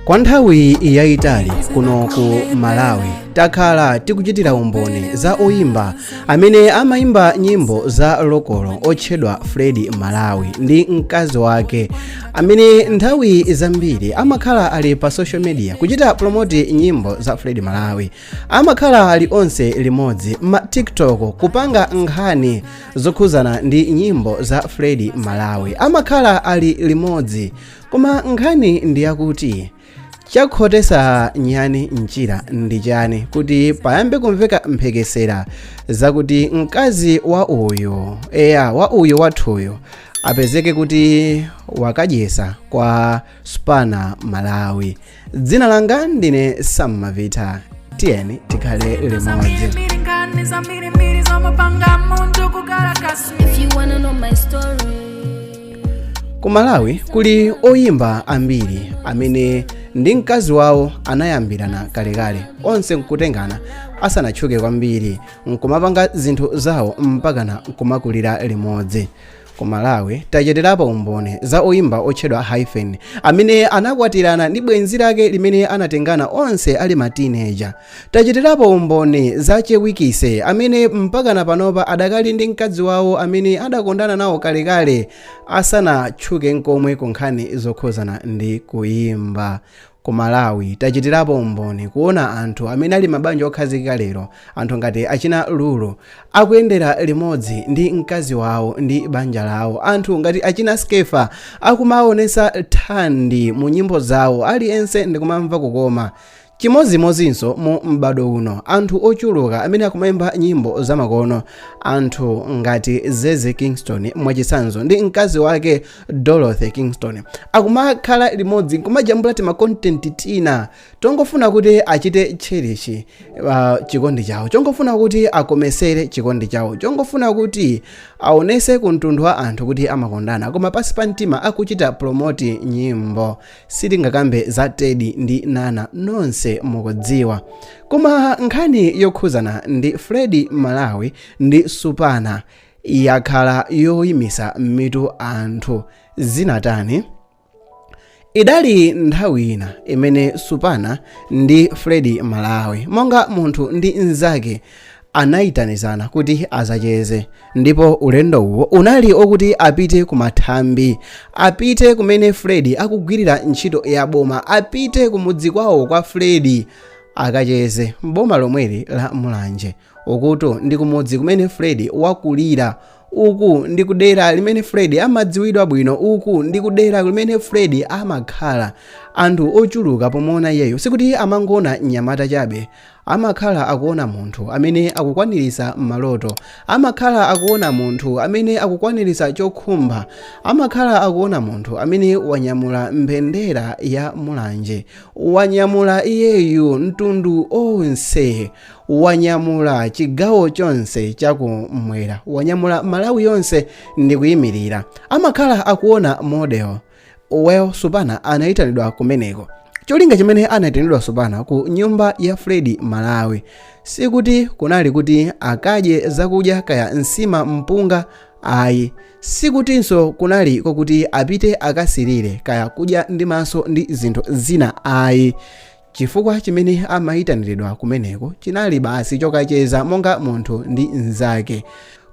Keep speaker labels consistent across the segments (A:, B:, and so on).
A: kwa nthawi yayitali kuno ku malawi takhala tikuchitira umboni za oyimba amene amayimba nyimbo za lokolo otchedwa fred malawi ndi mkazi wake amene nthawi zambiri amakhala ali pa social media kuchita promoti nyimbo za fred malawi amakhala ali onse limodzi ma tiktok kupanga nkhani zokhuzana ndi nyimbo za fred malawi amakhala ali limodzi koma nkhani ndi yakuti chakhotesa nyani mchira ndi chani kuti payambe kumveka mphekesera zakuti mkazi wa uyo eya wa uyo wathuyo apezeke kuti wakadyesa kwa supana malawi dzina langa ndine sam mavita tiyeni tikhale limodzi If you wanna know my story, ku malawi kuli oyimba ambiri amene ndi mkazi wawo anayambirana kalekale onse nkutengana asanatchuke kwambiri nkumapanga zinthu zawo mpakana nkumakulira limodzi Ku Malawi tachitirapo umboni za oyimba otchedwa Hyphen amene anakwatirana ndi bwenzi lake limene anatengana onse ali ma teenager. Tachitirapo umboni za Che Wikise amene mpakana panopa adakali ndi mkazi wawo amene anakondana nawo kalekale asanatchuke nkomwe ku nkhani zokhuzana ndi kuyimba. Ku Malawi tachitirapo umboni kuona anthu amene ali mabanja okhazikika lero, anthu ngati achina Lulu, akuyendera limodzi ndi mkazi wawo ndi banja lawo, anthu ngati achina Skeffa akumaonesa Thandi mu nyimbo zawo aliyense ndikumamva kukoma. Chimodzimodzinso mu m'bado uno anthu ochuluka amene akumaimba nyimbo zamakono, anthu ngati Zeze Kingston mwachitsanzo ndi mkazi wake, dorothy kingston akumakhala limodzi nkumajambula tima content tina tongofuna kuti achite cherish uh, chikondi chawo chongofuna kuti akomesere chikondi chawo chongofuna kuti aonese ku mtundu wa anthu kuti amakondana koma pasi pa mtima akuchita promoti nyimbo sitingakambe za teddy ndi nana nonse mukudziwa koma nkhani yokhuzana ndi fred malawi ndi supana yakhala yoyimisa mitu anthu zinatani idali nthawi ina imene supana ndi fred malawi monga munthu ndi mnzake anayitanizana kuti azacheze ndipo ulendo uwo unali okuti apite ku mathambi apite kumene fred akugwirira ntchito ya boma apite kumudzi kwawo kwa fred akacheze mboma lomweli la mulanje Ukutu ndi kumudzi kumene Fred wakulira. Uku ndi kudera limene Fred amadziwidwa bwino. Uku ndi kudera limene Fred amakhala. Anthu ochuluka pomuona iyeyo sikuti amangoona mnyamata chabe. Amakhala akuona munthu amene akukwaniritsa maloto. Amakhala akuona munthu amene akukwaniritsa chokhumba. Amakhala akuona munthu amene wanyamula mbendera ya Mulanje. Wanyamula iyeyu mtundu wonse. wanyamula chigawo chonse chakumwera wanyamula malawi yonse ndikuyimirira amakhala akuona model well supana anayitanidwa kumeneko cholinga chimene anayitanidwa supana ku nyumba ya fred malawi sikuti kunali kuti akadye zakudya kaya nsima mpunga ayi sikutinso kunali kokuti apite akasirire kaya kudya ndi maso ndi zinthu zina ayi Chifukwa chimene amayitaniridwa kumeneko chinali basi chokacheza monga munthu ndi mnzake.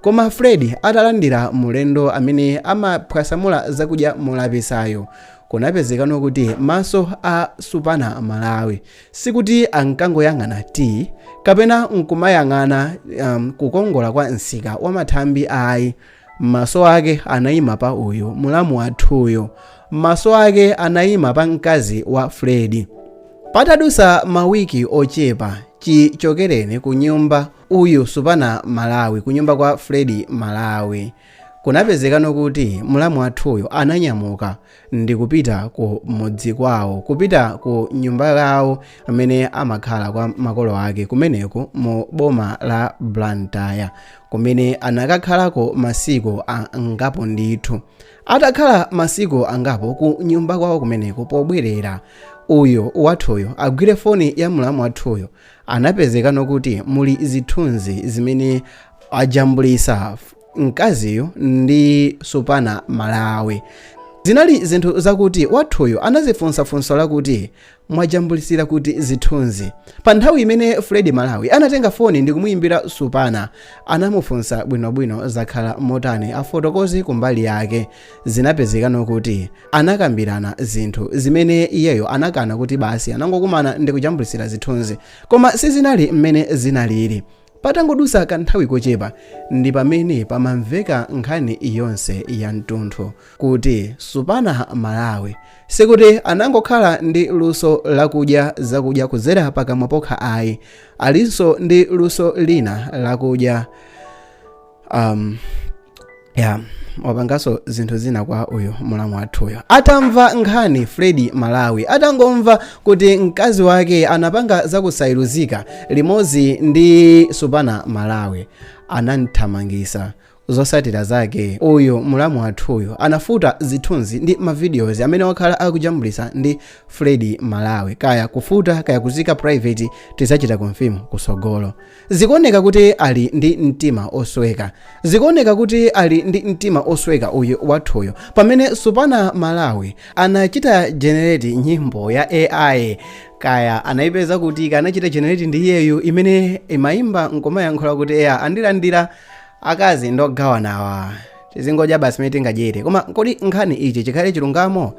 A: Koma Fred atalandira mlendo amene amaphwasamula zakudya molapisayo, kunapezekano kuti maso a Supana Malawi sikuti ankangoyang'ana tii, kapena nkumayang'ana, um, kukongola kwa msika wamathambi ayi. Maso ake anayima pa uyu, mulamu wathuyo. Maso ake anayima pa mkazi wa Fred. Patadutsa mawiki ochepa chichokereni ku nyumba uyu Supana Malawi, ku nyumba kwa Fred Malawi, kunapezekano kuti mulamu wathuyo ananyamuka ndi kupita ku mudzi kwawo kupita ku nyumba yawo amene amakhala kwa makolo ake kumeneko mu boma la blantyre kumene anakakhalako masiku angapo ndithu atakhala masiku angapo ku nyumba kwawo kumeneko pobwerera uyu wathuyo agwire foni ya mlamu wathuyo anapezekano kuti muli zithunzi zimene ajambulisa Mkaziyu ndi Supana Malawi. Zinali zinthu zakuti wathuyu anadzifunsa funso lakuti mwajambulitsira kuti zithunzi. Pa nthawi imene Fred Malawi anatenga foni ndi kumuyimbira Supana, anamufunsa bwinobwino zakhala motani afotokoze kumbali yake. Zinapezekano kuti anakambirana zinthu zimene iyeyo anakana kuti basi anangokumana ndi kujambulitsira zithunzi. Koma sizinali mmene zinalili. Patangodutsa kanthawi kochepa ndi pamene pamamveka nkhani yonse ya mtunthu kuti Supana Malawi. Sikuti anangokhala ndi luso la kudya zakudya kudzera pakamwa pokha ayi, alinso ndi luso lina la kudya. um, yeah wapanganso zinthu zina kwa uyu mulamu wathuyo atamva nkhani fredi malawi atangomva kuti mkazi wake anapanga zakusayiruzika limodzi ndi supana malawi anamthamangisa zosatira zake uyu mulamu wathuyo anafuta zithunzi ndi mavideos amene wakhala akujambulisa ndi fredi malawi kaya kufuta kaya kuzika private tizachita confirm kusogolo Zikuoneka kuti ali ndi mtima osweka. Zikuoneka kuti ali ndi mtima osweka uyu wathuyo. Pamene Supana Malawi anachita generate nyimbo ya AI kaya anaipeza kuti kaya anachita generate ndi iyeyo imene imaimba nkomayankhula kuti eya andilandira akazi ndogawanawa tizingodya basi mmene tingadyere koma kodi nkhani ichi chikhale chilungamo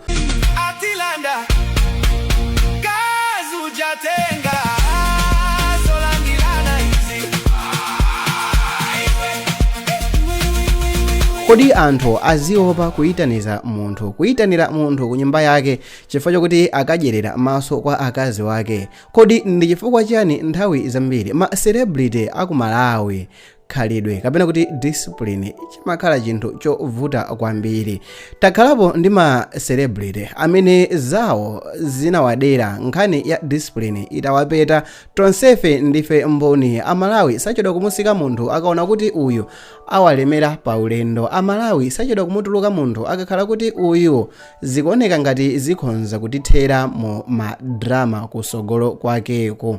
A: atilanda mkazi uja atenga zolandilana izi kodi anthu aziopa kuyitaniza munthu kuyitanira munthu ku nyumba yake chifukwa chokuti akadyerera maso kwa akazi wake kodi ndi chifukwa chiyani nthawi zambiri ma celebrity aku malawi khalidwe kapena kuti discipline chimakhala chinthu chovuta kwambiri takhalapo ndi ma celebrity amene zawo zinawadera nkhani ya discipline itawapeta tonsefe ndife mboni amalawi sachedwa kumusika munthu akaona kuti uyu awalemera pa ulendo amalawi sachedwa kumutuluka munthu akakhala kuti uyu zikuoneka ngati zikhonza kutithera mu madrama kusogolo kwakeko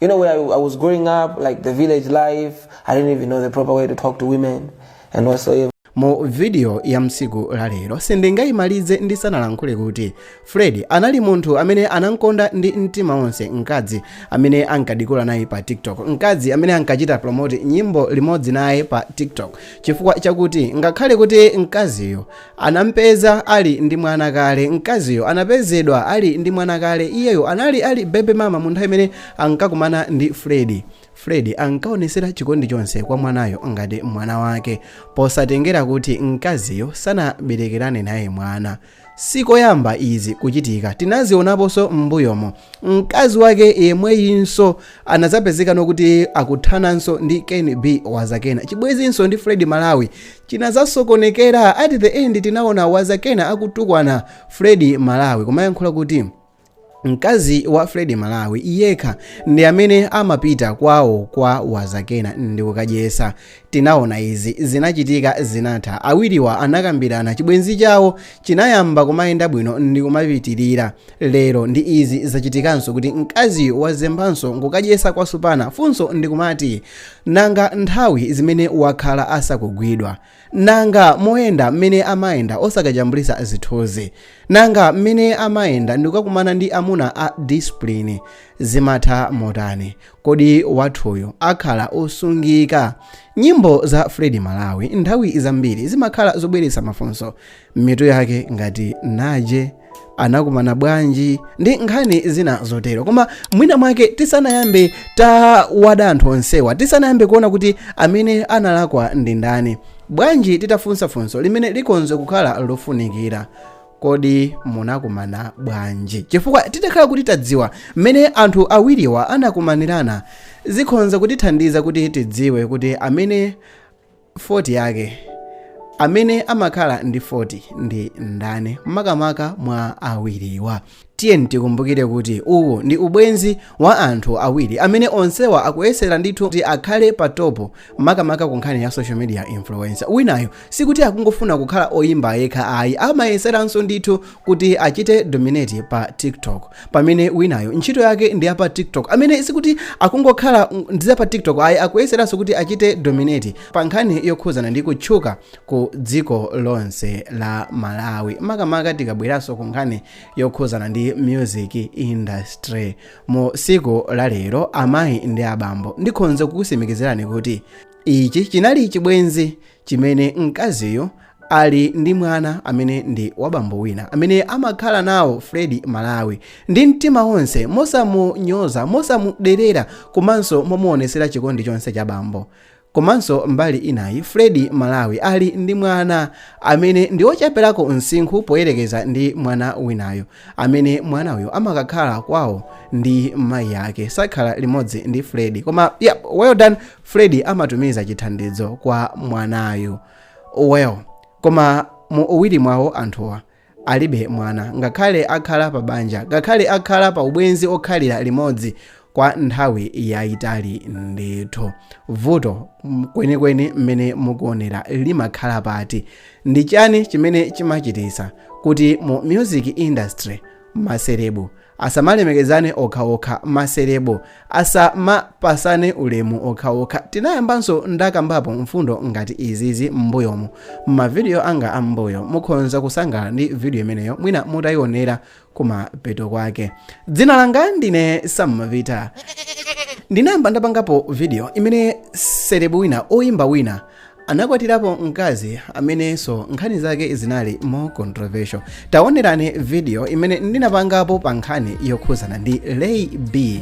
B: You know, where I, I was growing up, like the village life, I didn't even know the proper way to talk to women and whatsoever. mu vidiyo
A: ya mtsiku la lero sindingayimalize ndisanalankhule kuti fred anali munthu amene anamkonda ndi mtima wonse mkazi amene ankadikula naye pa tiktok mkazi amene ankachita promote nyimbo limodzi naye pa tiktok chifukwa chakuti ngakhale kuti mkaziyo Anampeza ali ndi mwana kale. Mkaziyo anapezedwa ali ndi mwana kale. Iyeyo anali ali baby mama mu nthawi imene ankakumana ndi Fred. Fred ankaonetsera chikondi chonse kwa mwanayo ngati mwana wake posatengera kuti mkaziyo sanaberekerane naye mwana. Si koyamba izi kuchitika, tinazionaponso m'mbuyomo. Mkazi wake yemweyinso anazapezekanso kuti akuthananso ndi ken b wazakena chibwezinso ndi fred malawi chinazasokonekera at the end tinaona wazakena akutukwana fred malawi kumayankhula kuti mkazi wa fred malawi yekha ndi amene amapita kwawo kwa wazakena ndikukadyesa Tinaona izi zinachitika zinatha awiriwa anakambirana chibwenzi chawo chinayamba kumayenda bwino ndikumapitilira lero ndi izi zachitikanso kuti mkaziyu wazembanso nkukadyesa kwa Supana funso ndikumati nanga nthawi zimene wakhala asakugwidwa nanga moyenda mmene amayenda osakajambulisa zithunzi nanga mmene amayenda ndikukakumana ndi amuna a discipline zimatha motani kodi wathuyu akhala osungika nyimbo za fredi malawi nthawi zambiri zimakhala zobweretsa mafunso m'mitu yake ngati naje anakumana bwanji ndi nkhani zina zotero koma mwina mwake tisanayambe tawada anthu onsewa tisanayambe kuona kuti amene analakwa ndi ndani bwanji titafunsa funso limene likonze kukhala lofunikira kodi munakumana bwanji chifukwa titakhala kuti tadziwa mmene anthu awiriwa anakumanirana zikhonza kutithandiza kuti tidziwe kuti amene fault yake amene amakhala ndi fault ndi ndani makamaka mwa awiriwa tiyeni tikumbukire kuti uwu ndi ubwenzi wa anthu awiri amene onsewa akuyesera ndithu kuti akhale pa topo makamaka ku nkhani ya social media influence winayo sikuti akungofuna kukhala oyimba yekha ayi amayeseranso ndithu kuti achite dominate pa tiktok pamene winayo ntchito yake ndi yapa tiktok amene sikuti akungokhala ndi zapa tiktok ayi akuyeseranso kuti achite dominate pa nkhani yokhuzana ndi kutchuka ku dziko lonse la malawi makamaka tikabweranso ku nkhani yokhuzana ndi music industry mu siku la lero amayi ndi abambo ndikhonza kukusimikizirani kuti ichi chinali chibwenzi chimene mkaziyo ali ndi mwana amene ndi wabambo wina amene amakhala naye fredi malawi ndi mtima wonse mosamunyoza mosamuderera komanso momuonesera chikondi chonse cha bambo Komanso mbali inayi Fred Malawi ali ndi mwana amene ndi ocheperako msinkhu poyerekeza ndi mwana winayo amene mwana uyu amakakhala kwawo ndi mayi yake sakhala limodzi ndi Fred koma yep well done Fred amatumiza chithandizo kwa mwanayu well koma mu uwiri mwawo anthuwa alibe mwana, ngakhale akhala pa banja, ngakhale akhala pa ubwenzi okhalira limodzi kwa nthawi yayitali ndithu vuto kwenikweni mmene mukuonera limakhala pati ndi chani chimene chimachitisa kuti mu music industry maselebu Asamalemekezane okha okha ma celeb asamapasane ulemu okha okha. Ndinayambanso ndakambapo mfundo ngati izizi m'mbuyomu mma video anga a m'mbuyo. Mukhonza kusangalala ndi video imeneyo mwina mutayionera kumapeto kwake. Dzina langa ndine Sam Mavita. Ndinayamba ndapangapo video imene celeb wina, oyimba wina, Anakwatirapo mkazi amenenso nkhani zake zinali more controversial. Taonerani video imene ndinapangapo pa nkhani yokhuzana ndi Lay B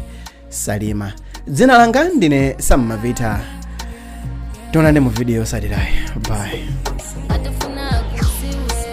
A: Salima. Dzina langa ndine Sam Mavita. Tionane mu video yotsatirayi. Bye.